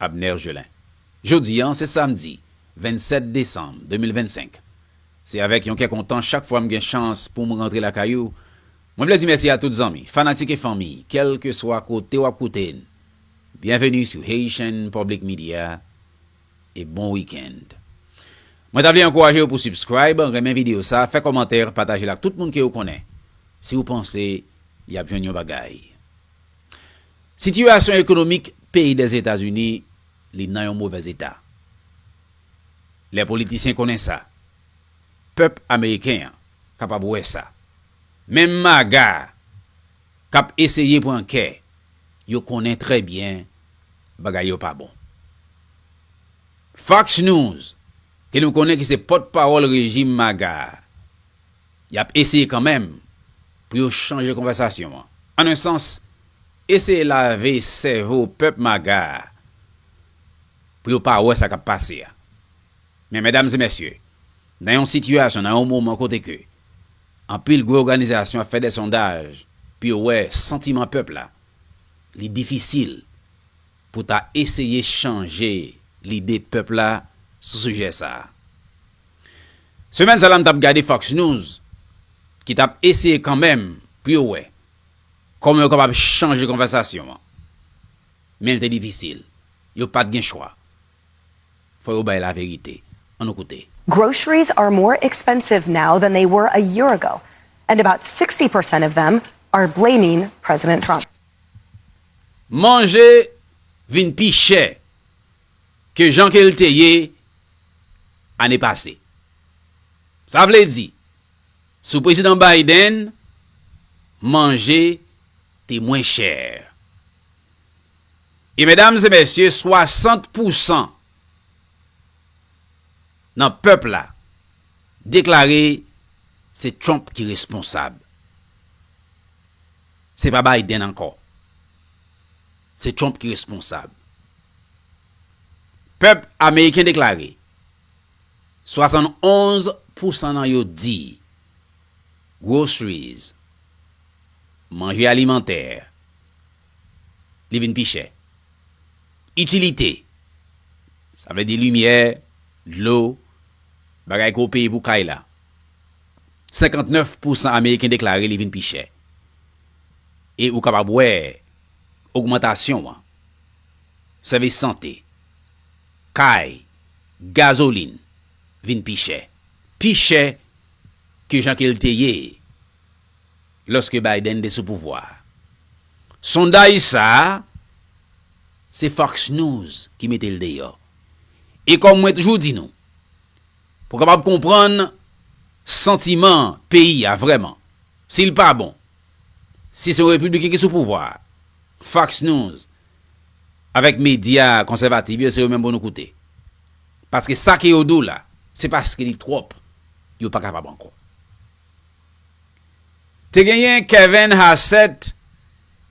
Abner Gelin. Jodi an se samdi 27 desanm 2025. Se avèk yon kè kontan chak fwa m gen chans pou m rantre lakay ou. Mwen vle di mèsi a tout zanmi, fanatik e fanmi kèlkeswa kote w ap koute n. Byenveni sou Haitian Public Media e bon wikenn. Mwen ta vle ankouraje ou pou subscribe, renmen videyo sa, fè kòmantè, pataje l ak tout moun ke ou konnen si ou panse y ap jwenn yon bagay. Sitiyasyon ekonomik peyi Dèzetazini li nan yon movèz eta. Lè politisyen konnen sa, pèp ameriken an kapab wè sa. Menm MAGA k ap eseye pran kè yo konnen trè byen bagay yo pa bon. Fox News ke nou konnen ki se pòtpawòl rejim MAGA a, Y ap eseye kanmenm pou yo chanje konvèsasyon an. An un sans, eseye lave sèvo pèp maga a pou yo pa wè sa k ap pase a. Men medam e mesye, nan yon sitiyasyon, nan yon moman kote ke anpil gwo òganizasyon ap fè dè sondaj pou yo wè santiman pèp la, li difisil pou ta eseye chanje lide pèp la sou sijè sa a. Semèn sa la m tap gade Fox News ki tap eseye kanmenm pou yo wè kòman yo kapab chanje konvèsasyon an. Men l te difisil. Yo pat gen chwa. Fò yo bay laverite. An nou koute. Groceries are more expensive now than they were a year ago and about 60 percent of them are blaming President Trump. Manje vin pi chè ke jan ke l te ye ane pase. Sa vle di, sou Prezidan Biden, manje te mwen chè. E medam e mesye, 60 pousan nan pèp la deklare se Trump ki responsab. Se pa Biden ankò. Se Trump ki responsab. Pèp ameriken deklare 71 pousan nan yo di groceries, manje alimantè, li vin pi chè. Itilite, sa vle di limyè, dlo, bagay ke w peye pou kay la, 59 pousan ameriken deklare li vin pi chè. E ou kapab wè. ogmantasyon an, sèvis sante, kay, gazolin vin pi chè, pi chè ke jan ke l te ye lòske Biden te sou pouvwa a. Sondaj sa a, se Fox News ki mete l deyò. E kòm mwen toujou di nou, pou w kapab konprann santiman peyi a vrèman, si l pa bon, Si se yon Repibliken ki sou pouvwa a, Fox News avèk medya konsèvativ yo se yo menm pou nou koute. Paske sa ke yo di w la, se paske li twòp, yo pa kapab ankò. Te genyen Kevin Hassett,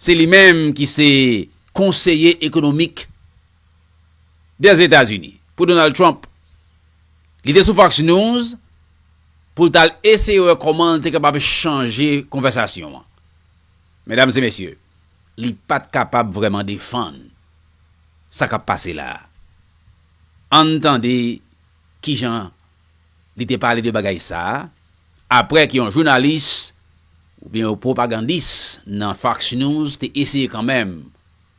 se li menm ki se konseye ekonomik des États-Unis pou Donald Trump. Li te sou Fox News pou l t al eseye wè kòman l te kapab chanje konvèsasyon an. Medam e mesye, li pa t kapab vrèman defann sa k ap pase la a. Ann tande ki jan li te pale de bagay sa a apre ke yon jounalis oubyen yon pwopagandis nan Fox News te eseye kanmenm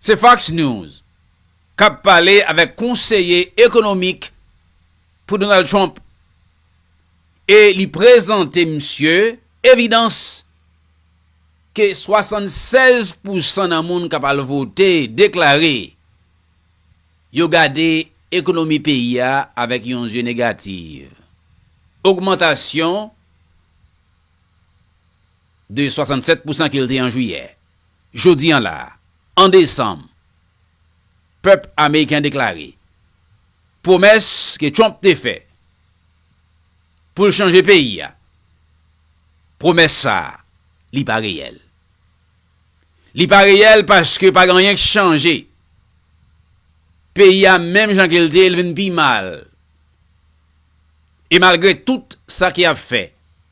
Se Fox News kap pale avèk konseye ekonomik pou Donald Trump e li prezante misye evidans ke 76 pousan nan moun kap al vote deklare yo gade ekonomi peyi a avèk yon zye negativ. Ogmantasyon de 67 pousan ke l te an Juyè. Jodi an la a, 1 Desanm, pèp Ameriken an deklare pwomès ke Trump te fè pou l chanje peyi a, pwomès sa a li pa reyèl. Li pa reyèl paske pa gen anyen ki chanje. Peyi a menm jan ke l te ye, li vin pi mal. E malgre tout sa ki ap fè,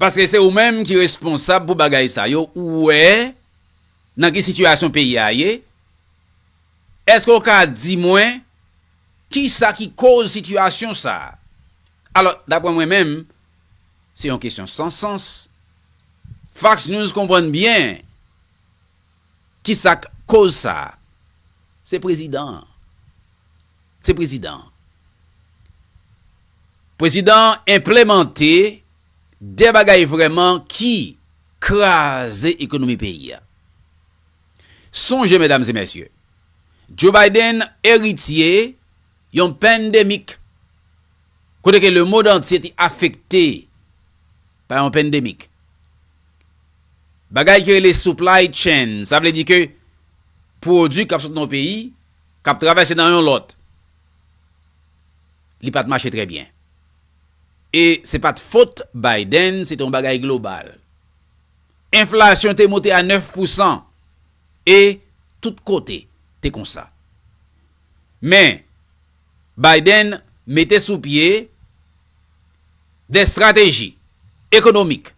Paske se ou menm ki responsab pou bagay sa yo ou wè nan ki sitiyasyon peyi a ye eske ou ka di mwen kisa ki koz sitiyasyon sa alò daprè mwen menm se yon kesyon san sans fax news konprann byen. Kisak koz sa a? Se prezidan an. Se prezidan an. Prezidan an enplemante de bagay vrèman ki kraze ekonomi peyi a. Sonje medam e mesye, Joe Biden eritye yon pandemic kote ke le mond antye te afekte. pa yon pandemic. Bagay ki rele supply chain, sa vle di ke pwodwi k ap sot nan yon peyi, k ap travèse nan yon lòt, li pa t mache trè byen. E se pa t fot Biden, se te yon bagay global. Enflasyon te monte a 9 pousan e tout kote te konsa. Men, Biden mete sou pye. de strateji ekonomik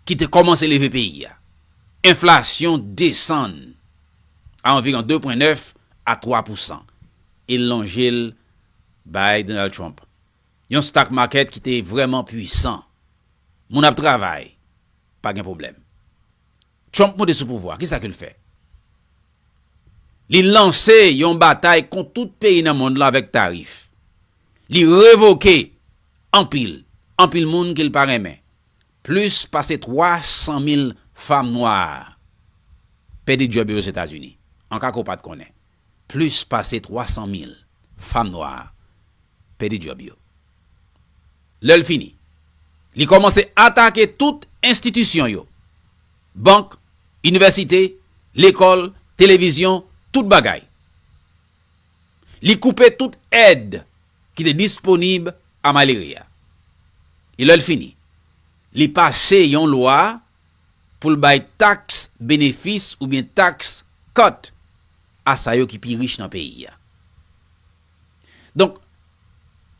ki te kòmanse leve peyi a, enflasyon desann a anviron 2 pwen 9 a 3 pousan e lonje l bay Donald Trump. Yon stock market ki te vrèman pwisan. Moun ap travay, pa gen pwoblèm. Trump monte sou pouvwa, kisa ke l fè? Li lanse yon batay kont tout peyi nan mond lan avèk tarif. Li revoke anpil, anpil moun ke l pa renmen. Plis pase 300 mil fam nwa pèdi djòb yo Ozetazini. An ka ke w pa t konnen. Plis pase 300 mil fam nwa pèdi djòb yo. Lè l fini, li kòmanse atake tout enstitisyon yo. bank, inivèsite, lekòl, televizyon, tout bagay. Li koupe tout èd ki te disponib a Maleri a. E lè l fini, li pase yon lwa pou l bay taks benefis oubyen taks cut a sa yo ki pi rich nan peyi a. Donk,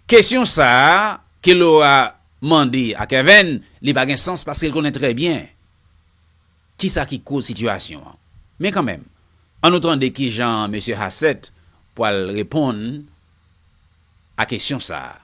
kesyon sa a ke Laura mande a Kevin, li pa gen sans paske l konnen trè byen ki sa ki koz sitiyasyon an. Men kanmenm, an nou tande ki jan Mesye Hassett pral reponn a kesyon sa a.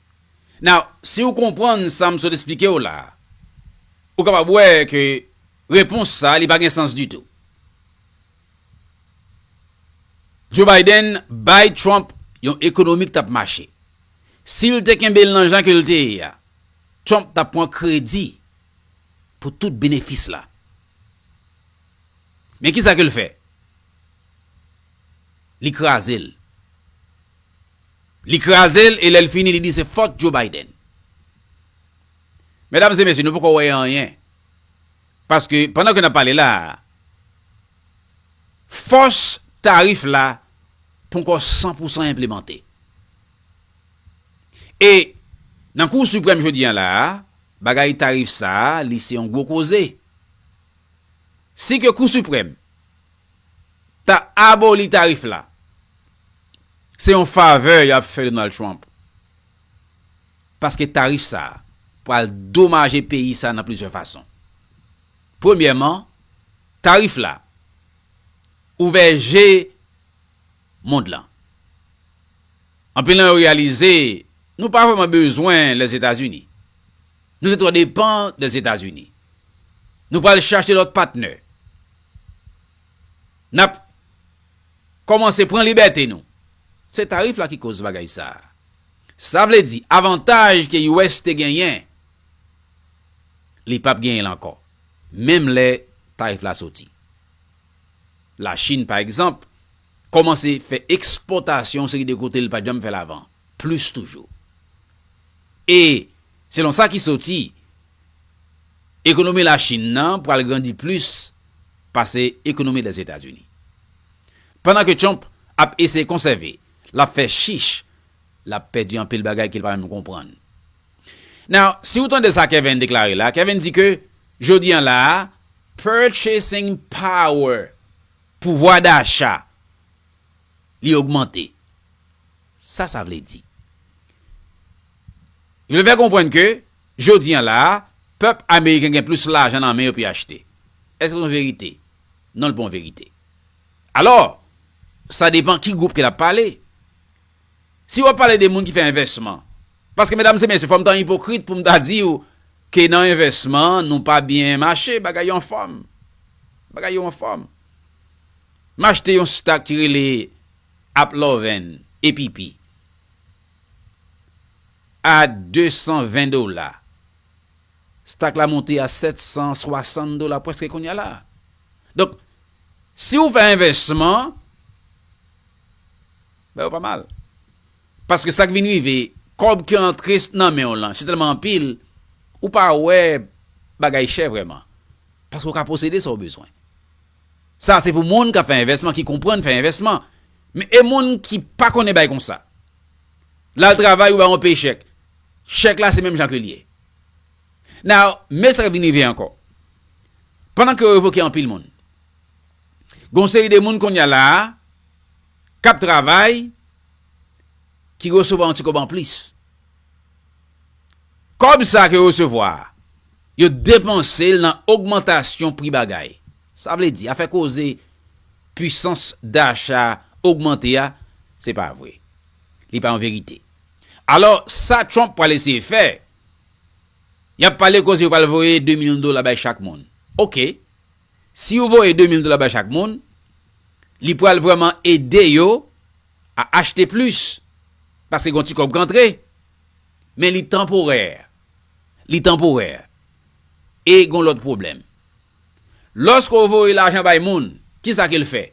Now, si ou konprann sa m sot esplike w la, ou kapab wè ke repons sa li pa gen sans ditou. Joe Biden bay Trump yon ekonomi ki t ap mache. Si l te kenbe l nan jan ke l te ye a, Trump t ap pran kredi pou tout benefis la. Men kisa ke l fè? Li kraze l. Li kraze l e lè l fini li di se fòt Joe Biden. Medam e mesye, nou poko wè anyen. Paske, pandan ke n ap pale la, fòs tarif la ponko 100 pou 100 enplemante. E, nan kou suprèm jodi an la, bagay tarif sa, li se yon gwo koze. Si ke kou suprèm, ta aboli tarif la. Se yon favè y ap fè Donald Trump. Paske tarif sa a pral domaje peyi sa a nan plizyè fason. Premyèman, tarif la ouvè je mond lan. Anpil nan yo reyalize nou pa vrèman bezwen Lèzetazini. Nou te twò depan Lèzetazini. Nou pral chache lòt patnè. Nap Kòmanse pran libète nou. Se tarif la ki koz bagay sa. Sa vle di avantaj ke US te genyen li pap genyen l ankò menm lè tarif la soti. La Chine pa egzanp kòmanse fè ekspòtasyon yon seri de kote li pat janm fè l avan. plis toujou. E, selon sa ki soti, ekonomi Lachin nan pral grandi plis pase ekonomi Lèzetazini. Pandan ke Trump ap eseye konsève, l ap fè chich, l ap pèdi anpil bagay ke l pa menm konprann. Now, si ou tande sa Kevin deklare la, Kevin di ke jodi an la a, purchasing power, pouvwa dacha, li ogmante. Sa sa vle di? Li vle fè konprann ke jodi an la a, pèp ameriken gen plis lajan nan men yo pou yo achte. Èske se yon verite? Non li pa yon verite. Alò, sa depan ki gwoup ke l ap pale. Si w ap pale de moun ki fè envèsman, paske medam se mesye fò m ta ipokrit pou m ta di w ke nan envèsman nou pa byen mache, bagay yo anfòm. Bagay yo anfòm. M achte yon stak ki rele Ap Lòvèn e Pipi a 220 dola. Stak la monte a 760 dola prèske kounye a la. Donk, si ou fè envèsman, ba yo pa mal. Paske sa k vin rive, kòb ki antre nan men w lan si tèlman anpil, ou pa wè bagay chè vrèman. Paske ou ka posede sa ou bezwen. Sa se pou moun kap fè envèsman ki konprann fè envèsman. Men e moun ki pa konnen bay konsa. Lal travay ou bay yon pechèk. Chèk la se menm jan ke li ye. Now, men sa kap vin rive ankò. Pandan ke yo revoke anpil moun. Gon seri de moun konya la a kap travay ki resevwa yon ti kob anplis. Kòb sa ke yo resevwa a, yo depanse l nan ogmantasyon pri bagay. Sa vle di, afè koze pwisans dacha ogmante a, se pa vre. Li pa yon verite. Alò, sa Trump pral eseye fè, y ap pale koze yo pral voye 2 milyon dola bay chak moun. Ok, si yo voye 2 milyon dola bay chak moun, li pral vrèman ede yo, a achte plis paske gon ti kòb k antre men li tanporè, li tanporè e gon lòt pwoblèm. Lòske ou voye lajan bay moun, ki sa ke l fè?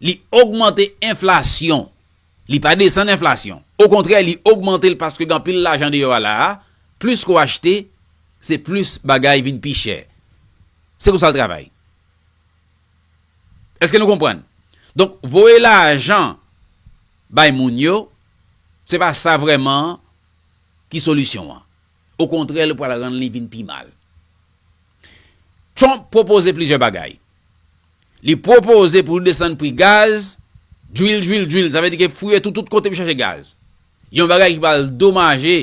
Li ogmante enflasyon, li pa desann enflasyon. Okontrè li ogmante l paske gen anpil lajan deyò a la a, plis ke w achte, se plis bagay vin pi chè. Se konsa l travay. Eske nou konprann? Donk, voye lajan bay moun yo, se pa sa vreman ki solisyon an. Okontrè, li pral rann li vin pi mal. Trump pwopoze plizyè bagay. Li pwopoze pou li desann pri gaz, drill, drill, drill, sa vle di ke fouye toutout kote pou chache gaz. Yon bagay ki pral domaje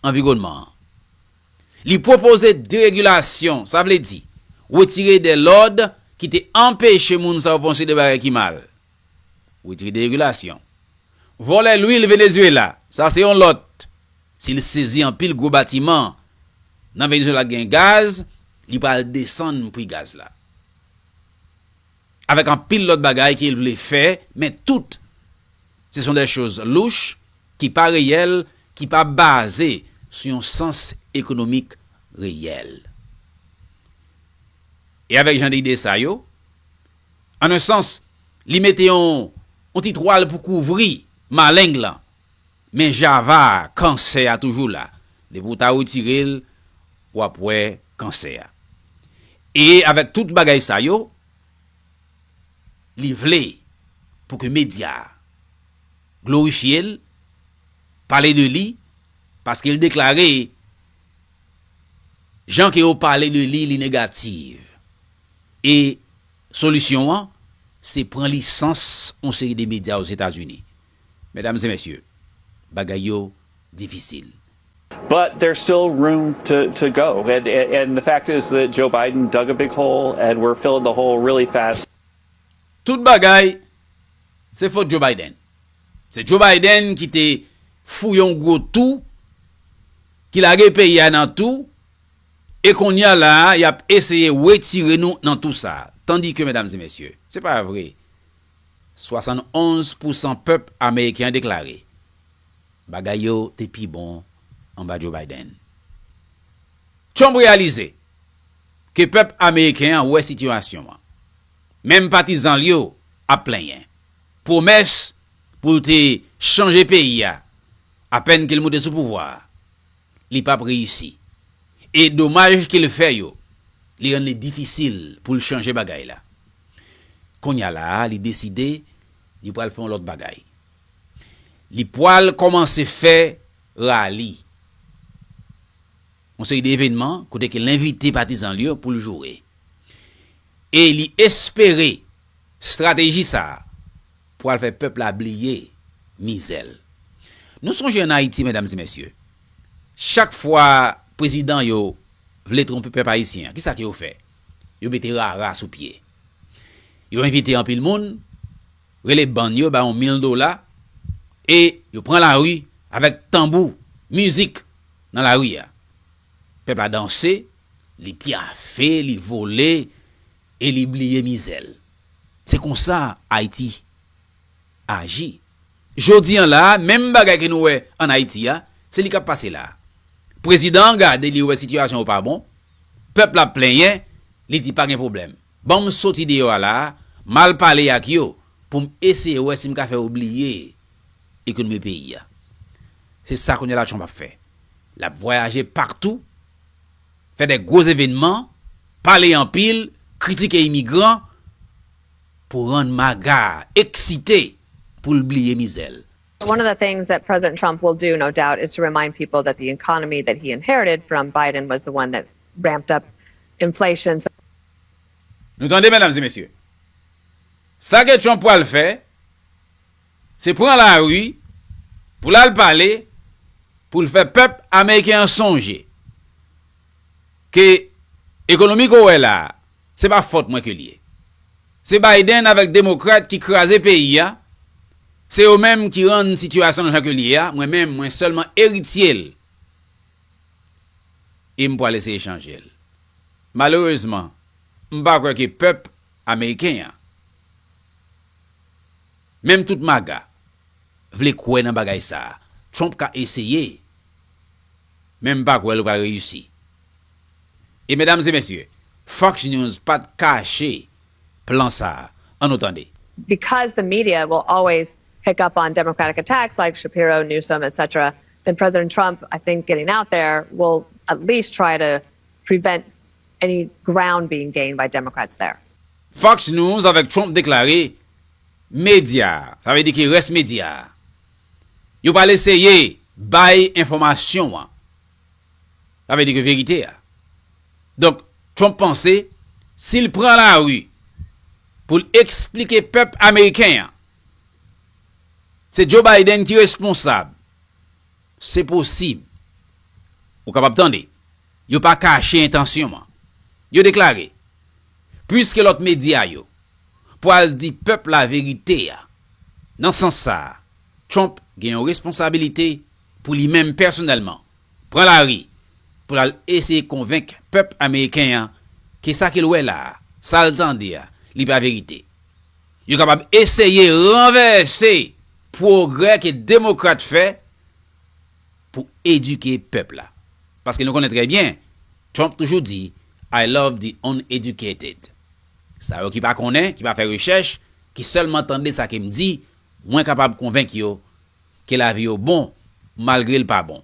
anviwònman an. Li pwopoze deregilasyon, sa vle di, wetire de lòd ki te anpeche moun sa yo fè yon seri de bagay ki mal. Wetire deregilasyon. Vòlè lwil Venezuela, sa se yon lòt. Si l sezi anpil gwo batiman nan Venezuela k gen gaz, li pral desann pri gaz la. Avèk anpil lòt bagay ke l vle fè, men tout se son dè choz louch, ki pa reyèl, ki pa baze sou yon sans ekonomik reyèl. E avèk jan de ide sa yo, an un sans, li mete yon ti twal pou kouvri maleng lan. Men java a kansè a toujou la depi ou ta retirel wap wè kansè a e avèk tout bagay sa yo li vle pou ke medya glorifyel pale de li paske li deklare jan ke yo pale de li li negativ e solisyon an se pran lisans yon seri de medya ozetazini. Mesdames et messieurs, bagay yo difisil. But there's still room to go and the fact is that Joe Biden dug a big hole and we're filling the hole really fast. Tout bagay se fot Joe Biden. Se Joe Biden ki te fouye yon gwo tou, ki lage peyi a nan tou, e kounye a la a y ap eseye wetire nou nan tou sa a. Tandike, mesdames et messieurs, se pa vre. 71 pousan pèp ameriken an deklare bagay yo te pi bon anba Joe Biden. Trump reyalize ke pèp ameriken an wè sitiyasyon an. Menm patizan l yo ap plenyen. Pwomès pou l te chanje peyi a apèn ke l moute sou pouvwa a. li pap reyisi. E domaj ke l fè yo, li rann li difisil pou l chanje bagay la. Kounye a la a, li deside li pral fè yon lòt bagay. Li pral kòmanse fè rali. Yon seri de evenman kote ke l envite patizan l yo pou l joure. E li espere strateji sa a. Pwal fè pèp la bliye mizè l. Nou sonje an Ayiti medam e mesye, chak fwa prezidan yo vle twonpe pèp ayisyen an, kisa ke yo fè? Yo mete rara sou pye. Yo envite anpil moun, rele bann yo ba yon mil dola, e yo pran lari avèk tanbou, mizik nan lari a. Pèp la danse, li pyafe, li vole. e li bliye mizè l. Se konsa Ayiti aji. Jodi an la a, menm bagay ke nou wè an Ayiti a, se li k ap pase la a. Prezidan an gade li wè sitiyasyon an pa bon, pèp la ap plenyen, li di pa gen pwoblèm. Ban m soti deyò a la a, m al pale ak yo pou m eseye wè si m ka fè yo bliye ekonomi peyi a. Se sa kounye a la Trump ap fè. L ap vwayaje paktou. Fè de gwo evenman, pale anpil, kritike imigran pou rann MAGA a eksite pou l bliye mizè l. One of the things that President Trump will do, no doubt, is to remind people that the economy that he inherited from Biden was the one that ramped up inflation, so. Nou tande, medam e mesye? Sa ke Trump pwal fè. se pran lari pou l al pale pou l fè pèp ameriken an sonje ke ekonomi ke w wè la a se pa fòt mwen ke l ye. Se Biden avèk demokrat ki kraze peyi a, se yo menm ki rann sitiyasyon an jan ke l ye a, mwen menm mwen sèlman eritye l e m pwal eseye chanje l. Malerezman, m pa kwè ke pèp ameriken an. Menm tout maga vle kwè nan bagay sa a. Trump ka eseye, men m pa kwè l pral reyisi. E medam e mesye, Fox News pa t kache plan sa a. An nou tande. Because the media will always pick up on democratic attacks like Shapiro, Newsom, etc. Then President Trump, I think getting out there will at least try to prevent Any ground being gained by Democrats there. Fox News avèk Trump deklare medya, sa vle di ki rès medya a, yo pral eseye bay enfòmasyon an, sa vle di ke verite a. Donk, Trump panse si l pran lari pou l eksplike pèp ameriken an se Joe Biden ki responsab, Se posib. Ou kapab tande. Yo pa kache entansyon an. Yo deklare, Puiske lòt medya yo pwal di pèp la verite a, nan sans sa a, Trump gen yon responsabilite pou li menm pèsonèlman pran lari pou l al eseye konvenk pèp ameriken an ke sa ke l wè la a, sa l tande a, li pa verite. Yo kapab eseye ranvèse pwogrè ke demokrat fè pou edike pèp la. Paske nou konnen trè byen, Trump toujou di, I love the uneducated. Sa yo ki pa konnen, ki pa fè rechèch, ki sèlman tande sa ke m di, mwen kapab konvenk yo ke lavi yo bon, malgre l pa bon.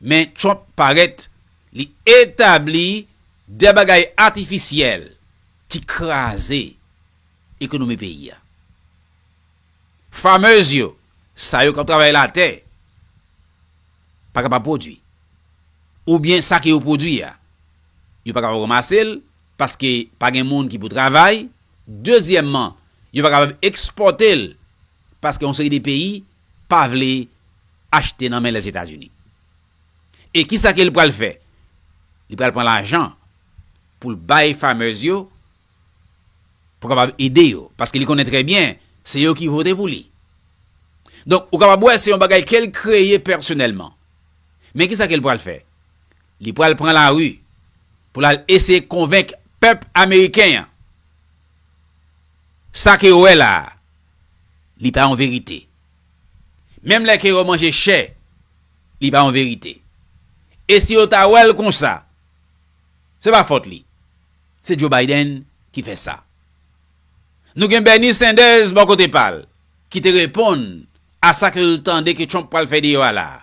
Men Trump parèt, li etabli de bagay atifisyèl ki kraze ekonomi peyi a. Farmers yo, sa yo k ap travay latè, pa kapab pwodui. Oubyen sa ke yo pwodui a, yo pa kapab ranmase l, paske pa gen moun ki pou travay. Dezyèmman, yo pa kapab ekspòte l, paske yon seri de peyi pa vle achte nan men Lèzetazini. E kisa ke li pral fè? Li pral pran lajan pou l bay farmers yo pou kapab ede yo. Paske li konnen trè byen se yo ki vote pou li. Donk ou kapab wè se yon bagay ke l kreye pèsonèlman. Men kisa ke l pral fè? Li pral pran lari pou l al eseye konvenk pèp ameriken an. Sa ke yo wè la a, li pa yon verite. Menm lè ke yo manje chè, li pa yon verite. E si yo ta wè l konsa, se pa fòt li. Se Joe Biden ki fè sa. Nou gen Bernie Sanders bò kote pa l, ki te reponn a sa ke l tande ke Trump pral fè deyò a la a.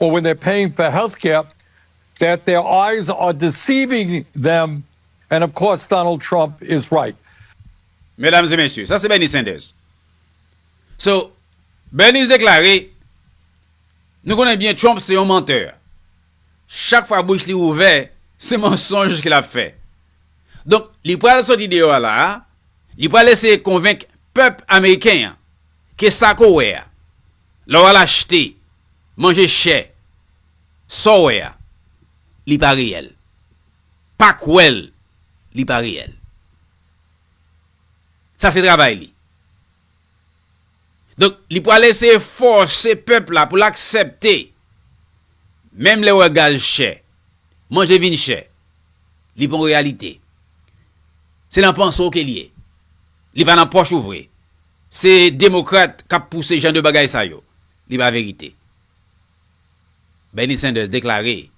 Or when they're paying for health care that their eyes are deceiving them and of course Donald Trump is right. Mesdames et messieurs, sa se Bernie Sanders. So, Bernie deklare, nou konnen byen Trump se yon menteur. Chak fwa bouch li ouvè, se mensonj ke lap fè. Donk, li pral soti deyò a la a, li pral eseye konvenk pèp Ameriken an ke sa ke w wè a, Lè w al achte manje chè, sa w wè a, li pa reyèl. Pa kwè l, li pa reyèl. Sa se travay li. Donk, li pral eseye fòse pèp la pou l aksepte, menm lè w wè gaz chè, manje vin chè, li pa yon reyalite. Se nan panse w ke l ye. Li pa nan pòch ou vre. Se demokrat kap pouse jan de bagay sa yo. Li pa verite. Bernie Sanders deklare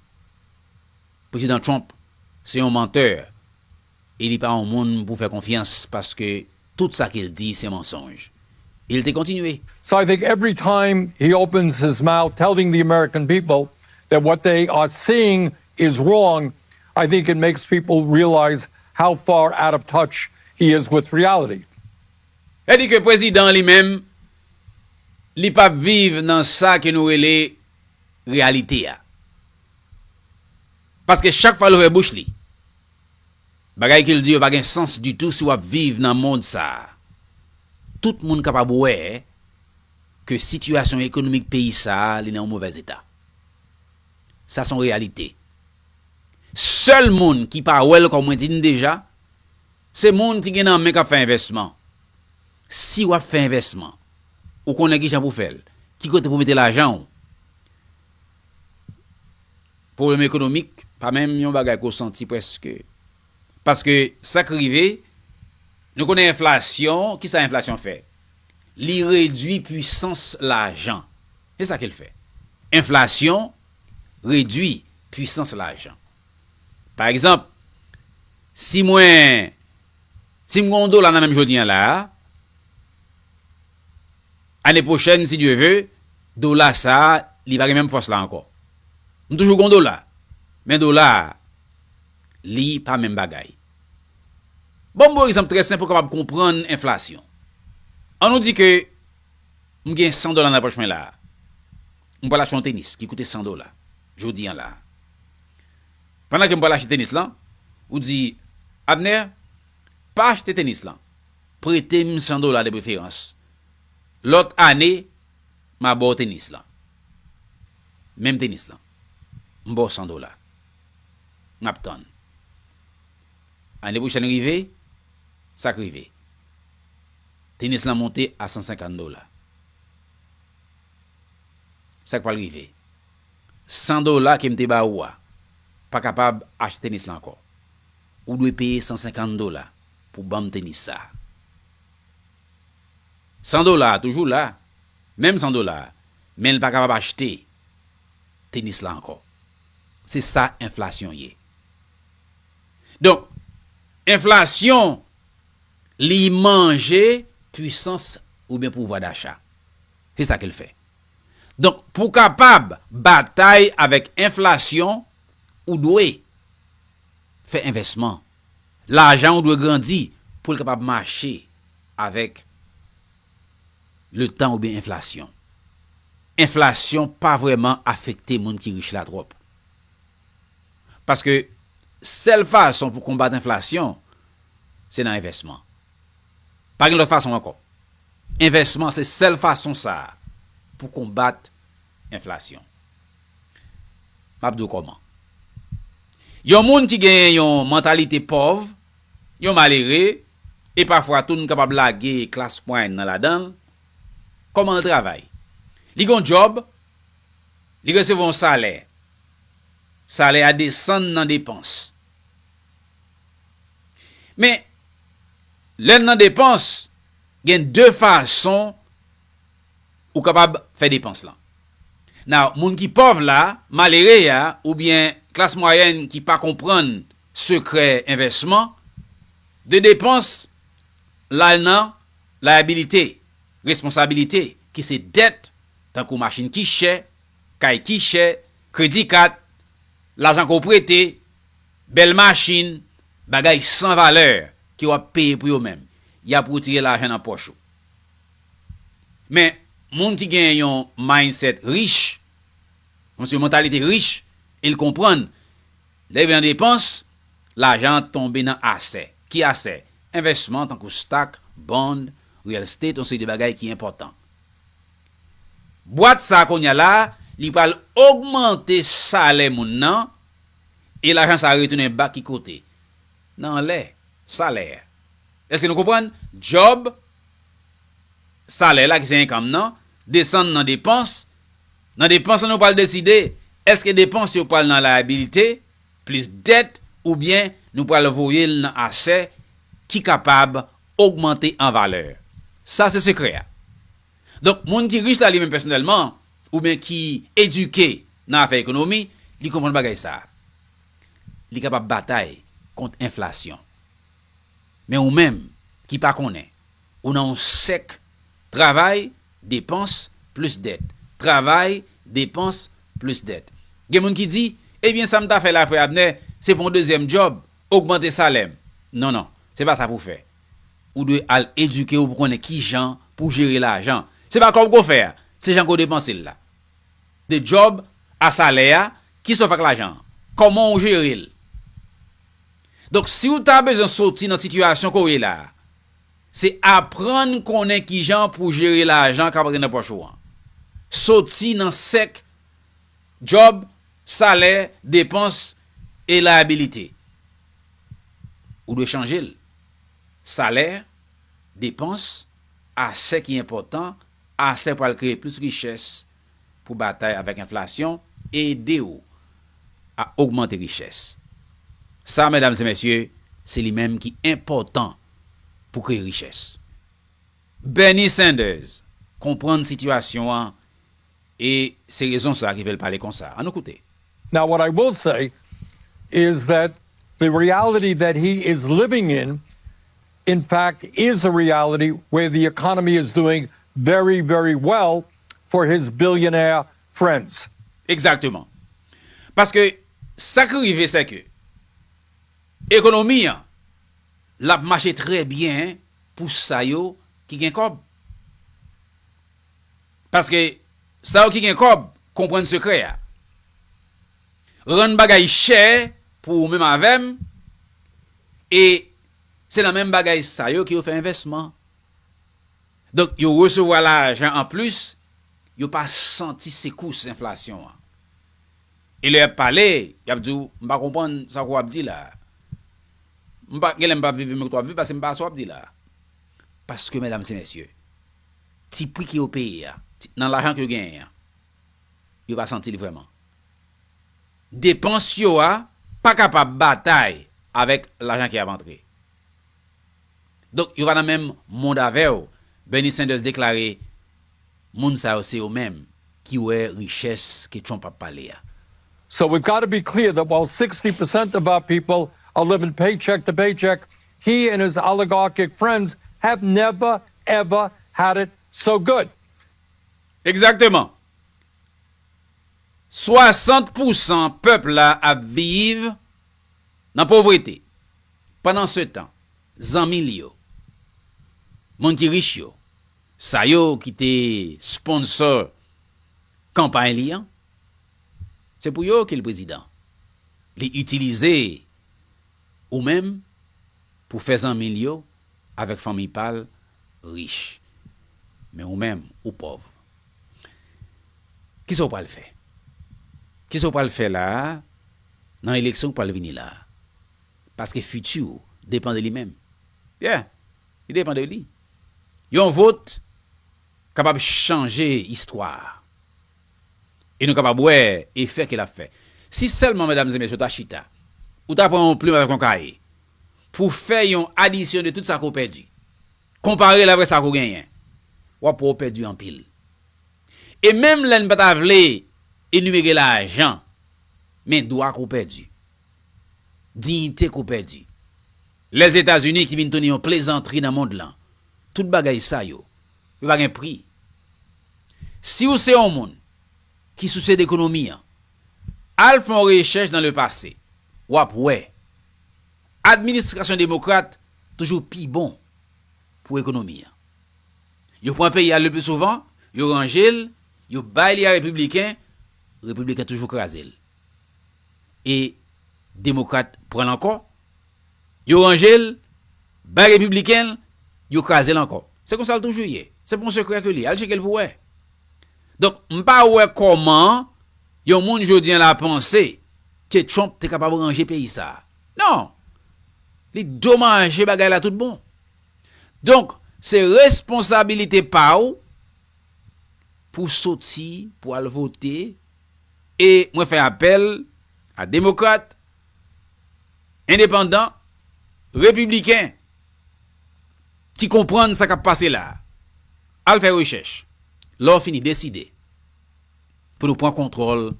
Prezidan Trump se yon mantè e li pa yon moun pou fè konfyans paske tout sa ke l di se mansonj. E l te kontinye. So I think every time he opens his mouth telling the American people that what they are seeing is wrong, I think it makes people realize how far out of touch he is with reality. Sa di ke prezidan li menm, li pa p viv nan sa ke nou rele reyalite a. Paske chak fwa l ouvè bouch li, bagay ke l di yo pa gen sans ditou si w ap viv nan mond sa a. Tout moun kapab wè ke sitiyasyon ekonomik peyi sa a li nan yon movèz eta. Sa son reyalite. Sèl moun ki pa wè l kòm mwen di n deja, Se moun ki gen nan men k ap fè envèsman. Si w ap fè envèsman, ou konnen ki jan pou w fè l, ki kote pou w mete lajan w. Pwoblèm ekonomik pa menm yon bagay ke w santi prèske. Paske sa k rive, nou konnen enflasyon, ki sa enflasyon fè? Li redui pwisans lajan. Se sa ke l fè. Enflasyon redui pwisans lajan. Pa egzanp, si mwen, si m gen yon dola nan men m jodi an la a, ane pwochèn si Dye ve, dola sa a li pa gen menm fòs la ankò. M toujou gen yon dola, men dola a li pa menm bagay. Bon m ba w egzanp trè senp pou w kapab konprann enflasyon. An nou di ke m gen 100 dola nan pòch mwen la a. m pral achte yon tenis ki koute 100 dola jodi an la a. Pandan ke m pral achte tenis lan, ou di, Abner, pa achte tenis lan. Prete m 100 dola de preferans. Lòt ane, m a ba w tenis lan. Menm tenis lan. M ba w 100 dola. M ap tann. Ane pwochèn rive, sa k rive? Tenis lan monte a 150 dola. Sa k pral rive? 100 dola ke m te ba ou a pa kapab achte tenis la ankò. Ou dwe peye 150 dola pou ban m tenis sa a. 100 dola a toujou la, menm 100 dola a, men l pa kapab achte tenis la ankò. Se sa enflasyon ye. Donk, enflasyon li manje pwisans oubyen pouvwa dacha. Se sa ke l fè. Donk, pou w kapab batay avèk enflasyon, ou dwe fè envèsman. Lajan ou dwe grandi pou l kapab mache avèk letan oubyen enflasyon. Enflasyon pa vrèman afekte moun ki rich la twòp. Paske, sèl fason pou konbat enflasyon, se nan envèsman. Pa gen lòt fason ankò. Envèsman se sèl fason sa a pou konbat enflasyon. M ap di w kòman. Yon moun ki gen yon mantalite pòv, yon malere, e pafwa tou n kapab lage klas mwayèn nan ladan l, kòman l travay? Li gen yon djòb, li resevwa yon salè. Salè a desann nan depans. Men, lè n nan depans, gen de fason ou kapab fè depans lan. Now, moun ki pòv la, malere a, oubyen klas mwayèn ki pa konprann sekrè envèsman, de depans l al nan layabilite, responsabilite, ki se dèt, tankou machin ki chè, kay ki chè, kredi kat, lajan ke w prete, Bèl machin, bagay san valè ke w ap peye pou yo men y ap retire lajan nan pòch ou. Men, moun ki gen yon mindset rich, moun se mantalite rich, e l konprann, lè li vin nan depans, lajan an tonbe nan asè. Ki asè? Envèsman tankou stock, bond, real estate, yon seri de bagay ki enpòtan. Bwat sa a kounye a la, li pral ogmante salè moun nan, E lajan sa a retounen bak ki kote? Nan anlè, salè. Èske nou konprann? Djòb, salè la ki se enkanm nan, desann nan depans. Nan depans la nou pral deside èske depans yo pral nan layabilite plis dèt oubyen nou pral voye l nan asè ki kapab ogmante an valè. Sa se sekrè a. Donk moun ki rich la li menm pèsonèlman oubyen ki edike nan afè ekonomi, li konprann bagay sa a. Li kapab batay kont enflasyon. Men ou menm ki pa konnen, ou nan yon sèk travay, depans, plis dèt. Travay, depans, plis dèt. Gen moun ki di, ebyen sa m ta fè la frè Abner, se pran yon dezyèm djòb, ogmante salè m. Non non, se pa sa pou w fè. Ou dwe al edike w pou konnen kijan pou w jere lajan. Se pa kòb ke w fè a, se jan ke w depanse l la. De djòb a salè a, kisa w fè ak lajan an? Kòman w jere l? Donk si w ta bezwen soti nan sitiyasyon ke w ye la a, se aprann konnen kijan pou w jere lajan kap antre nan pòch ou an. Soti nan sèk djòb, salè, depans e layabilite. Ou dwe chanje l. Salè, depans, asè ki enpòtan, asè pral kreye plis richès pou batay avèk enflasyon, ede ou a ogmante richès. Sa, medam e mesye, se li menm ki enpòtan pou kreye richès. Bernie Sanders konprann sitiyasyon an. E se rezon sa ki fè l pale konsa. An nou koute. Now what I will say is that the reality that he is living in in fact is a reality where the economy is doing very very well for his billionaire friends. Exactement. Paske sa ki rive se ke ekonomi an l ap mache trè byen pou sa yo ki gen kòb. Paske sa yo ki gen kòb konprann sekrè a. Rann bagay chè pou ou menm avè m e se nan menm bagay sa yo ke yo fè envèsman. Donk yo resevwa lajan an plis, yo pa santi sekous enflasyon an. E lè y ap pale, y ap di w, m pa konprann sa ke w ap di la a. M pa, gen lè m pa viv menm kote w ap viv paske m pa wè sa w ap di la a. Paske medam se mesye, ti pri ke yo peye a, nan lajan ke yo genyen an, yo pa santi li vreman. Depans yo a pa kapab batay avek lajan ki ap antre. Donk yo pa nan menm mond avew, Bernie Sanders deklare moun sa yo se yo menm ki wè riches ke Trump ap pale a. So we've got to be clear that while sixty percent of our people are living paycheck to paycheck, He and his oligarchic friends have never ever had it so good. Egzakteman. 60 pousan pèp la ap viv nan povrete. Pandansetan, zanmi l yo, moun ki rich yo, sa yo ki te sponsor kanpay li an, se pou yo ke l prezidan. Li itilize. Ou menm, pou fè zanmi l yo, avèk fanmiy pa l, rich. Men ou menm, ou pòv. Kisa w pral fè? Kisa w pral fè la a, nan eleksyon k pral vini la a? Paske fiti w depan de li menm. Yeah! Li depan de li. Yon vot kapab chanje istwa a. E nou kapab wè efè ke lap fè. Si sèlman medam e mesye ou ta chita, ou ta pran yon plim avèk yon kaye, pou fè yon adisyon de tout sa ke ou pèdi, konpare l avèk sa ke ou genyen, wap wè ou pèdi anpil. E menm lè n pa ta vle enimere lajan, men dwa ke ou pèdi, diyite ke ou pèdi, Lèzetazini ki vin tounen yon plezantri nan mond lan, tout bagay sa yo, Yo pa gen pri. Si ou se yon moun ki sousye dekonomi an, al fè yon rechèch nan le pase, w ap wè administrasyon demokrat toujou pi bon pou ekonomi an. Yo pran peyi a le pli souvan, yo ranje l, yo bay li a repibliken, repibliken toujou kraze l. E demokrat pran l ankò. Yo ranje l, bay Repibliken l, yo kraze l ankò. Se konsa l toujou ye. Se pa yon sekrè ke li ye. Al tcheke l pou wè. Donk, m pa wè kòman yon moun jodi an la panse ke Trump te kapab ranje peyi sa a. Non! Li domaje bagay la tout bon. Donk, se responsabilite pa w pou w soti, pou w al vote, e mwen fè apèl a Demokrat, endepandan, repibliken ki konprann sa k ap pase la a, al fè rechèch. Lò fini deside pou nou pran kontwòl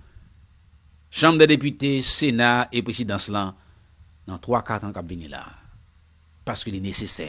Chanm dè Depite, Sena e Prezidans lan nan twa kat an k ap vini la a. Paske li nesesè